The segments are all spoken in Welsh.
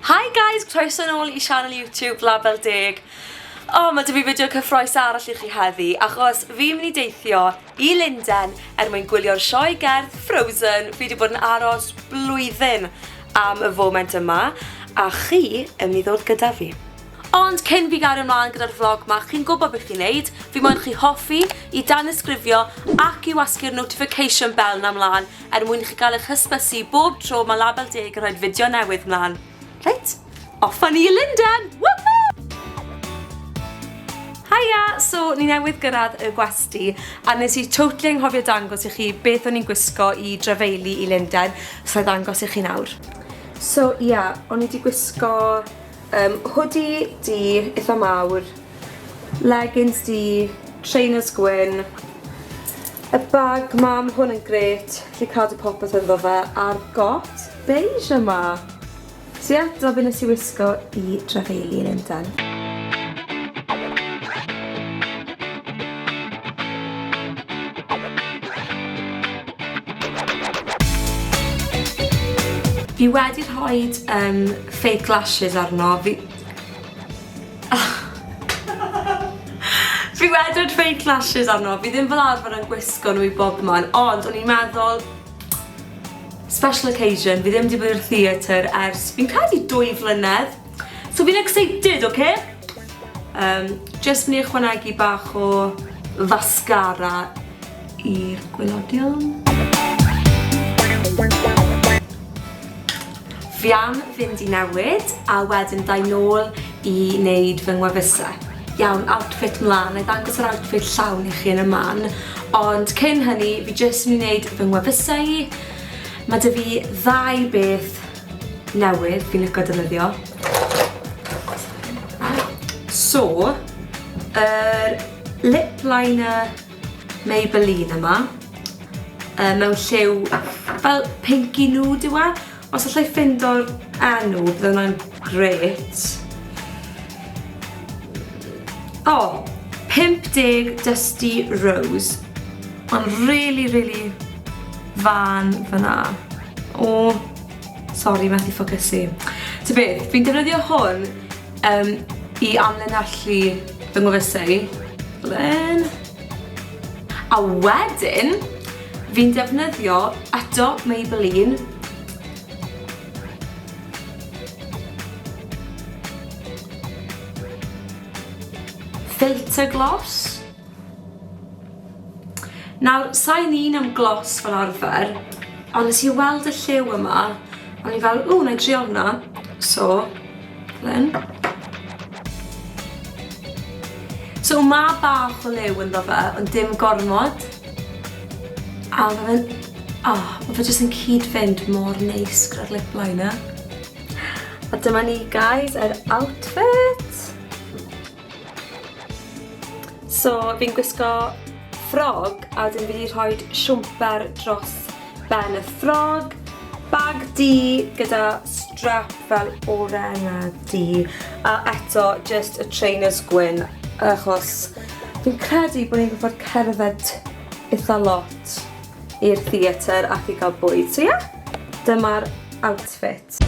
Hi guys, croeso nôl i sianel YouTube Label Deg. O, oh, mae dy fi fideo cyffroes arall i chi heddi, achos fi'n mynd i deithio i Linden er mwyn gwylio'r sioe gerdd Frozen. Fi wedi bod yn aros blwyddyn am y foment yma, a chi yn mynd i ddod gyda fi. Ond cyn fi gario ymlaen gyda'r vlog ma, chi'n gwybod beth i wneud, fi moyn chi hoffi, i danysgrifio ac i wasgu'r notification bell na mlaen Er mwyn i chi gael eich hysbysu bob tro mae Label Deg yn rhoi'r fideo newydd mlaen. Reit, off â ni i Lundain! Woohoo! Haia! So, ni newydd gyrraedd y gwesty, a nes i totally anghofio dangos i chi beth o'n i'n gwisgo i drafeilu i Lundain, so i ddangos i chi nawr. So, ia, o'n i 'di gwisgo Yym hoodie du itha mawr, leggings du, trainers gwyn, y bag 'ma, ma' hwn yn grêt, allu cadw popeth ynddo fe, a'r got beige yma! So ie, dyna be nes i wisgo i Drefeili yn Lundan. Fi wedi rhoid yym fake lashes arno fi fi wedwd fake lashes arno fi ddim fel arfer yn gwisgo nhw i bobman ond o'n i'n meddwl special occasion fi ddim wedi bod i'r theatr ers fi'n credu dwy flynedd so fi'n excited oce okay? um, jyst mynd i ychwanegu bach o fascara i'r gwylodion. Fi am fynd i newid a wedyn dau nôl i wneud fy ngwefusau. Iawn, outfit mlan, na i ddangos yr outfit llawn i chi yn y man, ond cyn hynny fi jyst mynd i wneud fy ngwefusau i. Mae dy fi ddau beth newydd fi'n licio defnyddio. So, yr lip liner Maybelline yma. Yy mewn lliw fel pinky nude yw e. Os allai ffindo'r enw bydde hwnna'n grêt. O! 50 Dusty Rose. Ond rili rili fân fyna. O! Sori methu ffocysu. Ta beth, fi'n defnyddio hwn Um, I amlinellu fy ngwefusau i. Blyn. A wedyn, fi'n defnyddio eto Maybelline filter gloss. Nawr, sain un am glos fel arfer, ond nes i weld y lliw yma, o'n i fel, ww, na i drio hwnna. So, lyn. So, mae bach o liw ynddo fe, ond dim gormod. A mae fe'n... O, oh, mae fe jyst yn cyd-fynd mor neis gyda'r lip liner. A dyma ni, guys, yr outfit. So fi'n gwisgo ffrog a wedyn fi wedi rhoi siwmper dros ben y ffrog, bag du gyda strap fel oren a du a eto just y trainers gwyn achos fi'n credu bod ni'n gorfod cerdded eitha lot. i'r theatr ac i gael bwyd. So ie, yeah, dyma'r outfit.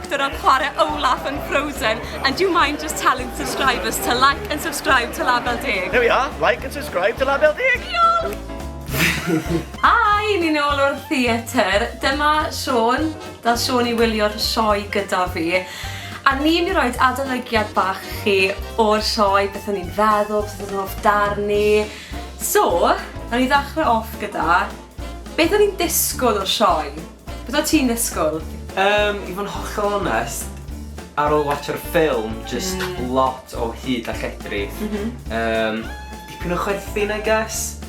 Dyna chwarae Olaf yn Frozen and do you mind just telling subscribers to like and subscribe to Label Deg? There we are, like and subscribe to Label Deg! Hi, ni'n ôl o'r theatr. Dyma Siôn, da Siôn i wylio'r sioe gyda fi. A ni'n i roed adolygiad bach chi o'r sioe, beth o'n i'n feddwl, beth o'n hoff darn ni. So, o'n i ddechrau off gyda beth o'n i'n disgwyl o'r sioe. Beth o't ti'n ddisgwyl? Yym, i fod yn hollol onest, ar ôl watsho'r ffilm, jyst lot o hud a lledri. Yym, dipyn o chwerthin I guess,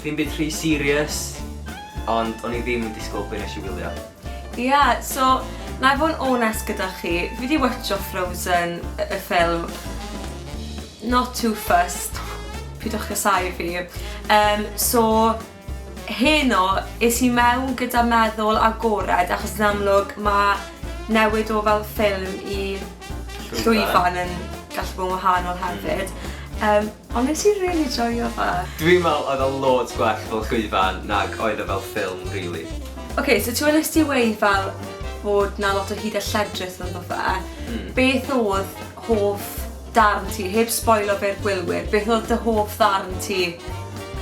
dim byd rhy serious, ond o'n i ddim yn disgwyl be nes i wylio. Ia, so, na i fod yn onest gyda chi, fi di watsho Frozen, y ffilm, not too fussed, pidwch casáu fi. Yym, so, Heno, es i mewn gyda meddwl agored achos yn amlwg mae newid o fel ffilm i llwyfan yn gallu bod yn wahanol hefyd yym ond nes i rili joio fe. Dwi'n meddwl oedd o loads gwell fel llwyfan nag oedd e fel ffilm rili. Ok, so ti wnes di weud fel bod 'na lot o hud a lledrith ynddo fe, beth oedd hoff Darn ti, heb sboilo fe'r gwylwyr, beth oedd dy hoff ddarn ti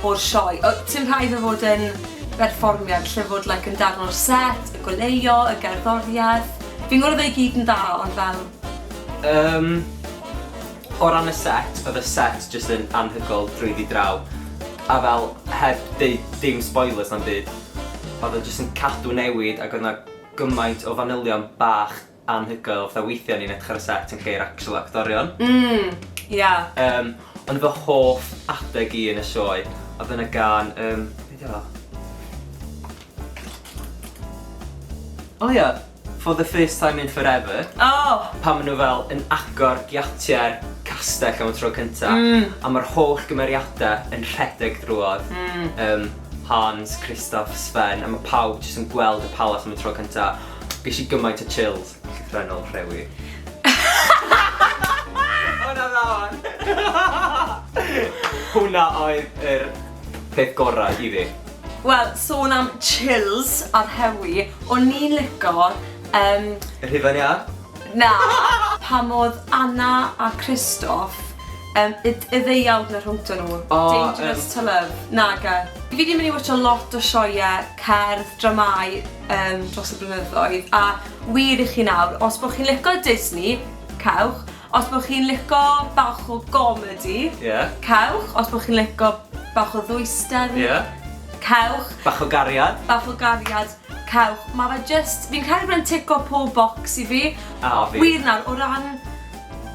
o'r sioe? O, ti'n rhaid fe fod yn berfformiad lle fod like, yn darn o'r set, y goleuo, y gerddoriaeth. Fi'n gwrdd ei gyd yn dda, ond fel... Um, o ran y set, oedd y set jyst yn anhygol drwy fi draw. A fel, heb deud dim spoilers na'n byd, oedd o jyst yn cadw newid ac oedd yna gymaint o fanylion bach anhygoel, fatha weithia o'n i'n edrych ar y set yn lle i'r actual actorion. Mm, ia. Um, ond fy hoff adeg i yn y sioe, oedd yna gan, um, beth yw O ia, for the first time in forever. Oh! Pan maen nhw fel yn agor giatiau'r castell am y tro cynta, mm. a mae'r holl gymeriadau yn rhedeg drwodd. Mm. Um, Hans, Kristoff, Sven, a mae pawb jyst yn gweld y palas am y tro cynta. Ges i gymaint o chills, llythrennol rhewi. Hwna dda wan! Hwna oedd yr peth gorau i fi. Wel, sôn am chills a rhewi, o'n i'n lico yym... Yr hufen iâ? Na! Pam oedd Anna a Christoph yym y d- y ddeuawd na rhwngto nhw? O yym... Dangerous to love? Nage. Fi 'di mynd i watsio lot o sioeau cerdd, dramâu. yym dros y blynyddoedd a wir i chi nawr, os bo chi'n lico Disney, cewch, os bo chi'n lico bach o gomedi, yeah. cewch, os bo chi'n lico bach o ddwysder, yeah. cewch, bach o gariad, bach o gariad, cewch, mae fe just, fi'n cael bod yn tico pob box i fi, a fi, wir nawr, o ran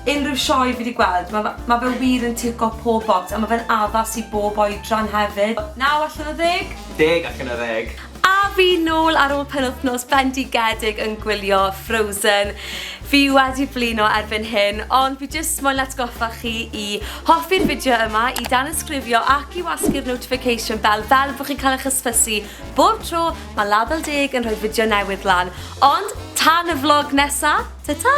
unrhyw sioe fi wedi gweld, mae ma fe wir yn tico pob box a mae fe'n addas i bob oedran hefyd. Naw allan o ddeg? Deg allan o ddeg. A fi nôl ar ôl penwthnos bendigedig yn gwylio Frozen. Fi wedi blino erbyn hyn, ond fi jyst moyn atgoffa chi i hoffi'r fideo yma, i danysgrifio ac i wasgu'r notification bell fel bo chi'n cael eich hysbysu bob tro mae Label Deg yn rhoi fideo newydd lan. Ond tan y vlog nesa, ta ta!